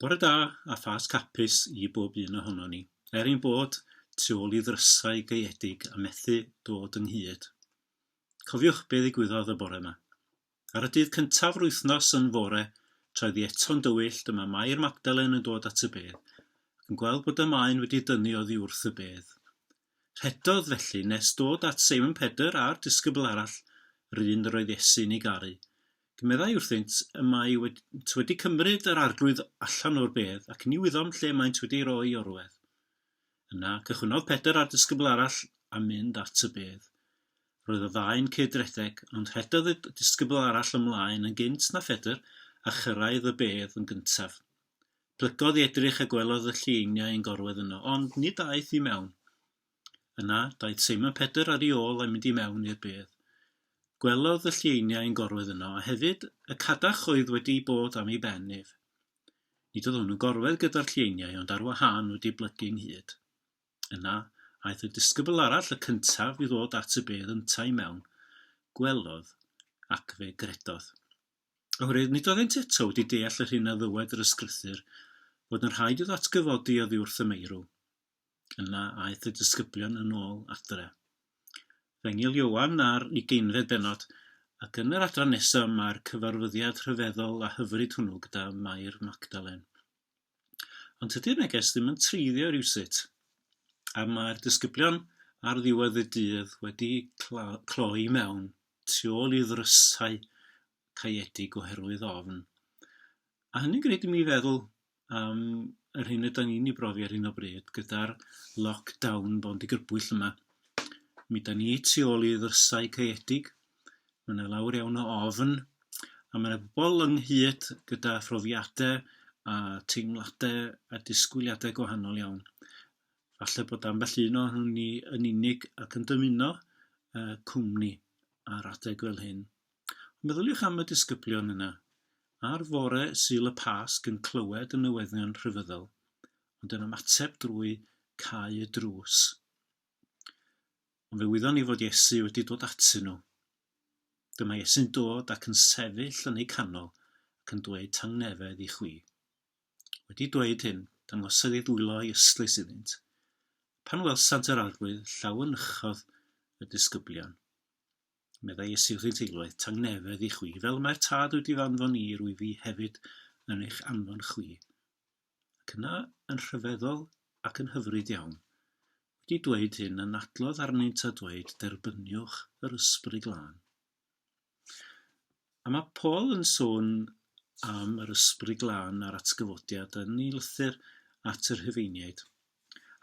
Bore da a Phasg hapus i bob un ohonon ni. Er ein bod tu ôl i ddrysau gaeedig a methu dod ynghyd, cofiwch be ddigwyddodd y bore yma. Ar y dydd cyntaf yr wythnos yn fore, troedd hi eto'n dywyll, dyma Mair Magdalen yn dod at y bedd, ac yn gweld bod y maen wedi dynnu oddi wrth y bedd. Rhedodd felly nes dod at Simon Pedr a'r disgybl arall, yr un yr oedd Iesu'n ei garu. Meddai wrthynt y maent wedi cymryd yr Arglwydd allan o'r bedd, ac ni wyddom lle maent wedi ei roi i orwedd. Yna cychwynnodd Pedr a'r disgybl arall a mynd at y bedd. Roedd y ddau'n cyd-redeg, ond rhedodd y disgybl arall ymlaen yn gynt na Phedr a chyrraedd y bedd yn gyntaf. Plygodd i edrych a gwelodd y llieiniau yn gorwedd yno, ond nid aeth i mewn. Yna, daeth Seimon Pedr ar ei ôl a'i mynd i mewn i'r bedd. Gwelodd y llieiniau yn gorwedd yno, a hefyd y cadach oedd wedi bod am ei ben ef. Nid oedd hwn yn gorwedd gyda'r llieiniau, ond ar wahân wedi blygu ynghyd. Yna, aeth y disgybl arall y cyntaf i ddod at y bedd yntau i mewn, gwelodd, ac fe gredodd. Oherwydd nid oeddent eto wedi deall yr hyn a ddywed yr ysgrythyr, fod yn rhaid iddo atgyfodi oddi wrth y meirw. Yna aeth y disgyblion yn ôl adre. Fe ngil Ioan ar ugeinfed benod, ac yn yr adran nesaf mae'r cyfarfyddiad rhyfeddol a hyfryd hwnnw gyda Mair Magdalen. Ond tydi'r neges ddim yn treiddio rhywsut, a mae'r disgyblion ar ddiwedd y dydd wedi cloi mewn tu ôl i ddrysau caeedig oherwydd ofn. A hynny'n gwneud i mi feddwl am yr hyn yda ni'n ei brofi ar hyn o bryd gyda'r lockdown bo'n digrybwyll yma. Mi da ni tu ôl i ddrysau caeedig, mae yna lawr iawn o ofn, a mae yna bobl ynghyd gyda phrofiadau a teimladau a disgwyliadau gwahanol iawn. Falle bod ambell un o'n hwn ni yn unig ac yn dymuno uh, cwmni ar adeg fel hyn. Meddyliwch am y disgyblion yna, ar fore Sul y Pasg yn clywed y newyddion rhyfeddol, ond yn ymateb drwy cau y drws. Ond fe wyddon ni fod Iesu wedi dod atyn nhw. Dyma Iesu'n dod ac yn sefyll yn eu canol ac yn dweud tangnefedd i chwi. Wedi dweud hyn, dangosodd ei ddwylo i ystlys iddynt. Pan welsant yr arglwydd, llaw yn uchod y disgyblion. Meddai Iesu wrth ei deuluoedd, Tangnefedd i chwi, fel y mae'r Tad wedi fy anfon i, rwyf fi hefyd yn eich anfon chwi. Ac yna, yn rhyfeddol ac yn hyfryd iawn, wedi dweud hyn, anadlodd arnynt a dweud, Derbyniwch yr ysbryd glân. A mae Paul yn sôn am yr ysbryd glân a'r atgyfodiad yn ei lythyr at yr Rhufeiniaid.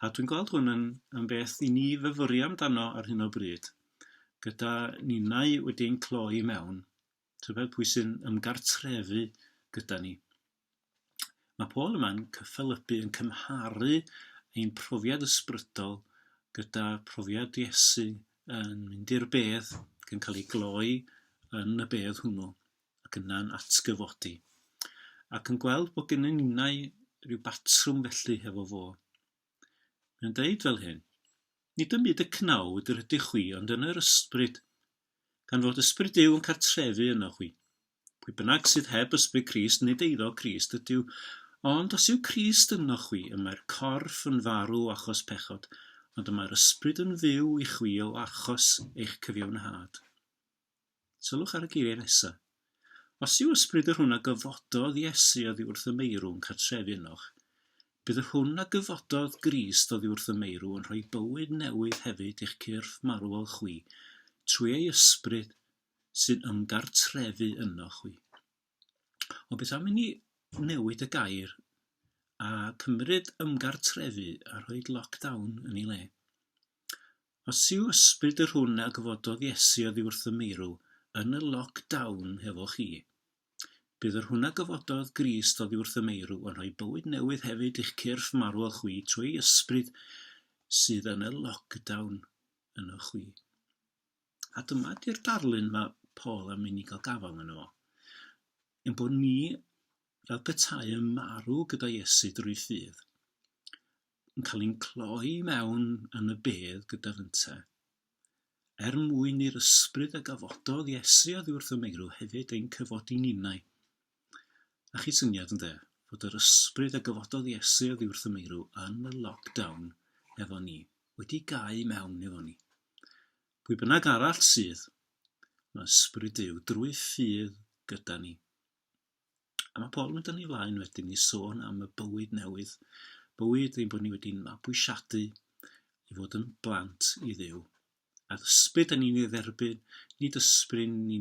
A dwi'n gweld hwn yn, yn beth i ni fyfyri amdano ar hyn o bryd, gyda ninnau wedi ein cloi mewn, tybed pwy sy'n ymgartrefu gyda ni. Mae Paul yma'n cyffelybu yn cymharu ein profiad ysbrydol gyda phrofiad Iesu yn mynd i'r bedd ac yn cael ei gloi yn y bedd hwnnw ac yna'n atgyfodi ac yn gweld bod gennym ninnau rhyw batrwm felly hefo fo. Mae'n dweud fel hyn, Nid ym myd y cnawd yr ydych chwi ond yn yr ysbryd gan fod Ysbryd Duw yn cartrefu ynoch chwi. Pwy bynnag sydd heb Ysbryd Crist, nid eiddo Crist ydyw. Ond os yw Crist ynoch chwi, y mae'r corff yn farw achos pechod, ond y mae'r Ysbryd yn fyw i chwi o achos eich cyfiawnhad. Sylwch ar y geiriau nesaf. Os yw ysbryd yr hwn a gyfododd Iesu oddi wrth y meirw'n cartrefu ynoch, bydd yr hwn a gyfododd Grist oddi wrth y meirw yn rhoi bywyd newydd hefyd i'ch cyrff marwol chwi trwy ei ysbryd sy'n ymgartrefu ynoch chwi. Ond beth am i ni newid y gair a cymryd ymgartrefu a rhoi lockdown yn ei le? Os yw ysbryd yr hwn a gyfododd Iesu oddi wrth y meirw yn y lock down hefo chi, bydd yr hwn a gyfododd Grist oddi wrth y meirw yn rhoi bywyd newydd hefyd i'ch cyrff marwol chwi trwy ei ysbryd sydd yn y lock down yno chwi. A dyma di'r darlun mae Paul am mynd i gael gafael yno fo. Yn bod ni fel petai yn marw gyda Iesu drwy ffydd. yn cael ein cloi i mewn yn y bedd gyda fynta. Er mwyn i'r ysbryd a gafododd Iesu oddi wrth y meirw hefyd ein cyfodi ninnau. A chi syniad yn dde, fod yr ysbryd a gafododd Iesu oddi wrth y meirw yn y lockdown efo ni, wedi gau mewn efo ni. Pwy bynnag arall sydd, mae ysbryd Duw drwy ffydd gyda ni. A mae pobl yn dynnu flaen wedyn i sôn am y bywyd newydd, bywyd ein bod ni wedi'n mabwysiadu i fod yn blant i ddiw. A'r ysbryd yn ni'n ei dderbyn, nid ysbryd ni,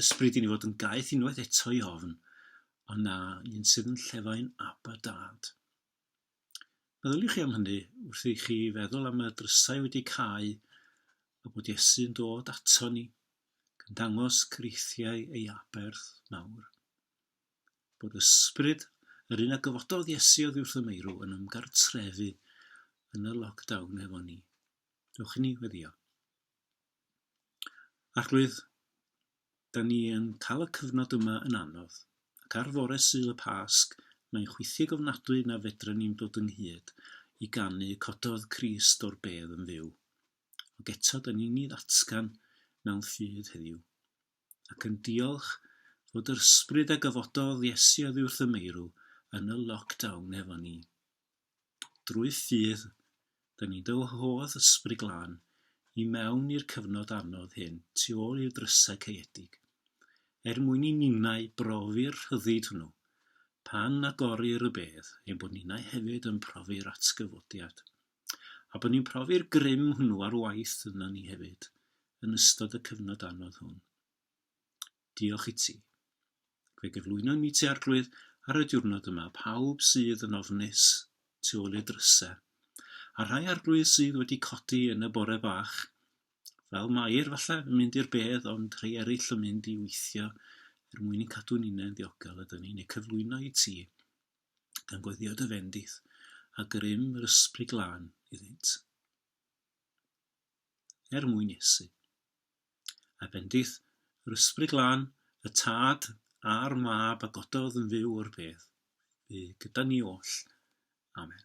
ysbryd i ni fod yn gaeth unwaith eto i ofn, ond na, un sydd yn llefain ab a dad. Meddyliwch chi am hynny wrth i chi feddwl am y drysau wedi cau a bod Iesu'n dod ato ni, gan dangos creithiau ei aberth mawr. Bod ysbryd yr un a gyfododd Iesu oddi wrth y meirw yn ymgartrefu yn y lockdown efo ni. Dewch i ni weddio. Arglwydd, 'dan ni yn cael y cyfnod yma yn anodd, ac ar fore Sul y Pasg, mae'n chwithig ofnadwy na fedren ni'm dod ynghyd i ganu 'Cododd Crist o'r bedd yn fyw', ond eto 'dan ni'n ei ddatgan mewn ffydd heddiw, ac yn diolch fod yr ysbryd a gyfododd Iesu oddiwrth y meirw yn y lockdown efo ni. drwy ffydd, da ni'n dy wahodd Ysbryd Glân i mewn i'r cyfnod anodd hyn tu ôl i'r drysau caeedig, er mwyn i ninnau brofi'r rhyddid hwnnw, pan agorir y bedd, ein bod ninnau hefyd yn profi'r atgyfodiad, a bod ni'n profi'r grym hwnnw ar waith yno ni hefyd, yn ystod y cyfnod anodd hwn. Diolch i ti. Fe gyflwynon ni ti Arglwydd ar y diwrnod yma, pawb sydd yn ofnus tu ôl i'r drysau, a rhai Arglwydd sydd wedi codi yn y bore bach, fel Mair falle yn mynd i'r bedd ond rhai eraill yn mynd i weithio er mwyn i'n cadw ninnau'n ddiogel a dyn ni'n eu cyflwyno i ti gan gweddïo dy fendith a grym yr ysbryd glân iddynt. Er mwyn Iesu. a bendith yr ysbryd lân, y tad a'r mab a gododd yn fyw o'r bedd, bu gyda ni oll. Amen.